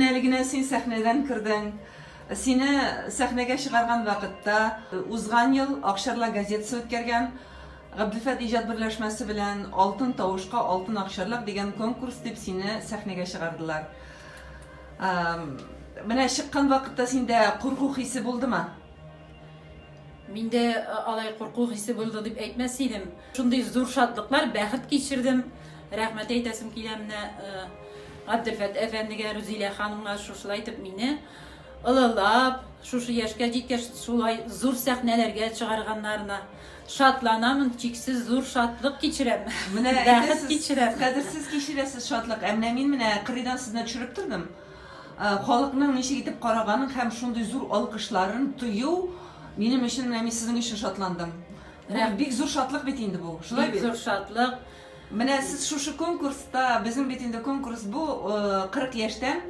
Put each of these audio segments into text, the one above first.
Әле генә син сәхнәдән кердең. Сине сәхнәгә чыгарган вакытта, узган ел Акчарла газетасы үткәргән Габделфәт иҗат берләшмәсе белән Алтын тавышка алтын акчарлак дигән конкурс дип сине сәхнәгә чыгардылар. Менә чыккан вакытта синдә курку хисе булдымы? Миндә алай курку хисе булды дип әйтмәс идем. Шундый зур шатлыклар, бәхет кичердем. Рәхмәт әйтәсем килә менә Габделфәт әфәндегә, Рузилә ханымга шушылай итеп мине ылылап, шушы яшькә җиткәч шулай зур сәхнәләргә чыгарганнарына шатланамын, чиксез зур шатлык кичерәм. Менә бәхет кичерәм. Кадерсез кичерәсез шатлык. Ә менә мин менә кырыйдан сезне төшереп тордым. Халыкның ничек итеп караганын һәм шундый зур алкышларын тою минем өчен, менә мин сезнең өчен шатландым. Бу бик зур шатлык бит инде бу. Шулай бит? Бик зур шатлык. Менә сез шушы конкурста, безнең бит инде конкурс бу 40 яшьтән,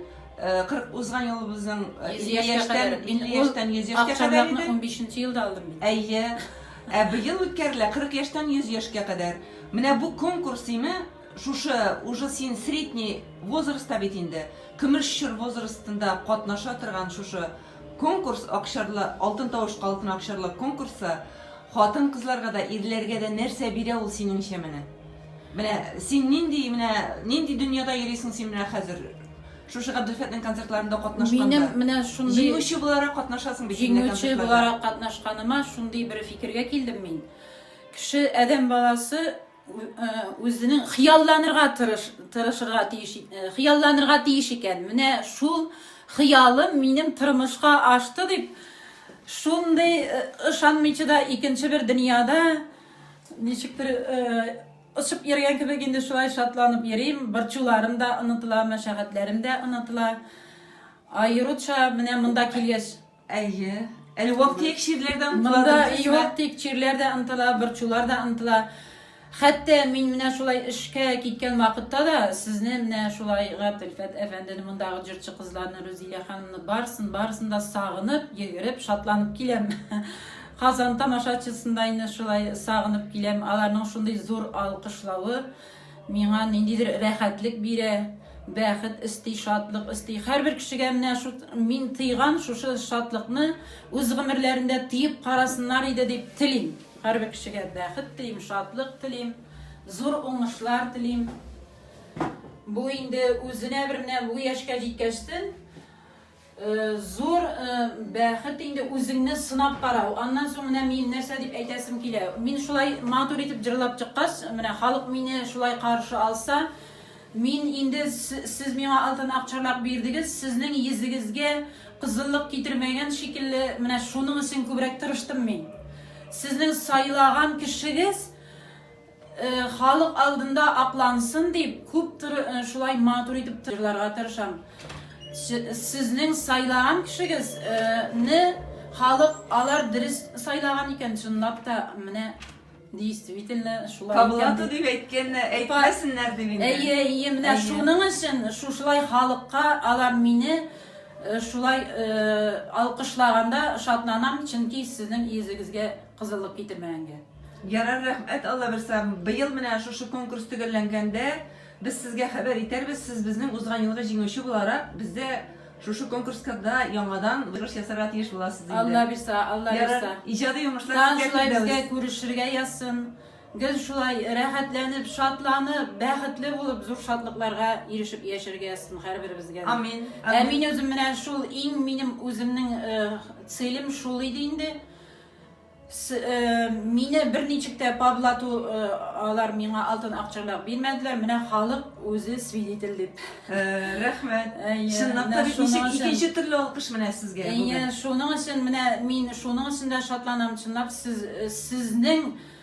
40 узган елыбызның 50 яшьтән, 50 яшьтән 100 яшькә кадәр иде. Ул акчарлакны 15 нче елда алдым бит. Әйе. Ә быел үткәрелә 40 яшьтән 100 яшькә кадәр. Менә бу конкурс име? Шушы уже син средний возрастта бит инде, көмеш чор возрастында катнаша торган шушы конкурс, Акчарлы, Алтын тавышка алтын акчарлы конкурсы хатын-кызларга да, ирләргә дә нәрсә бирә ул синеңчә менә? Менә син нинди менә, нинди дөньяда йөрисең син менә хәзер? Шушы Габделфәтнең концертларында катнашканда. Минем менә шундый. Җиңүче буларак катнашасың бит инде концертларда. Җиңүче буларак катнашканыма шундый бер фикергә килдем мин. Кеше, адәм баласы, үзенең хыялланырга тырыш, тырышырга тиеш, хыялланырга тиеш икән. Менә шул хыялым минем тормышка ашты дип, шундый ышанмыйча да икенче бер дөньяда ничектер очып йөргән кебек инде шулай шатланып йөрим. Борчуларым да онытыла, мәшәкатьләрем дә онытыла. Аеруча менә монда килгәч Әйе. Әле вак-төяк чирләр дә омтыла. Монда и вак-төяк чирләр дә омтыла, борчулар да омтыла. Хәтта мин менә шулай эшкә киткән вакытта да сезне менә шулай Габделфәт әфәндене, мондагы җырчы кызларны, Рузилә ханымны барысын, барысын да сагынып, йөгереп, шатланып киләм. Казан тамашачысында инде шулай сагынып киләм. Аларның шундый зур алкышлавы. Миңа ниндидер рәхәтлек бирә, бәхет өсти, шатлык өсти. Һәрбер кешегә менә шу мин тыйган шушы шатлыкны үз гомерләрендә тыеп карасыннар иде дип телим. Һәрбер кешегә бәхет телим, шатлык телим, зур уңышлар телим. Бу инде үзенә бер менә бу яшькә җиткәчтен Зур бәхет инде үзеңне сынап карау. Аннан соң менә мин нәрсә дип әйтәсем килә. Мин шулай матур итеп җырлап чыккач, менә халык мине шулай каршы алса, мин инде сез миңа алтын акчарлак бирдегез, сезнең йөзегезгә кызыллык китермәгән шикелле, менә шуның өчен күбрәк тырыштым мин. Сезнең сайлаган кешегез, Халык алдында аклансын дип, күп туры шулай матур итеп җырларга тырышам. Сезнең сайлаган кешегез не халык алар дөрес сайлаган икән, чынлап та менә действительно шулай. Табылаты дип әйткән, әйтмәсеннәр дип инде. Әйе, әйе, менә шуның өчен шушылай халыкка алар мине шулай алкышлаганда шатланам, чөнки сезнең йөзегезгә Кызыллык китермәгәнгә. Ярар, рәхмәт, аллабирса, быел менә шушы конкурс төгәлләнгәндә, без сезгә хәбәр итәрбез, сез безнең узган елгы җиңүче буларак, бездә шушы конкурскада яңадан чыгыш ясарга тиеш буласыз инде. Аллабирса, аллабирса. Ярар, иҗади уңышлар Тагын сезгә шулай безгә теләбез. күрешергә язсын. Гел шулай рәхәтләнеп, шатланып, бәхетле булып, зур шатлыкларга ирешеп яшәргә язсын һәрберебезгә дә. Амин, Ә амин. мин үзем менә шул иң минем үземнең целем шул иде инде. С, э, мине берничек тә подлату, э, алар миңа алтын акчалар бирмәделәр, менә халык үзе свидетель дип. Э, рәхмәт. Әйе, Чынлап менә та бит шуның ничек өчен- икенче төрле алкыш менә сезгә Әйе, бүген. шуның өчен менә мин шуның өчен дә шатланам, чынлап сез, э, сезнең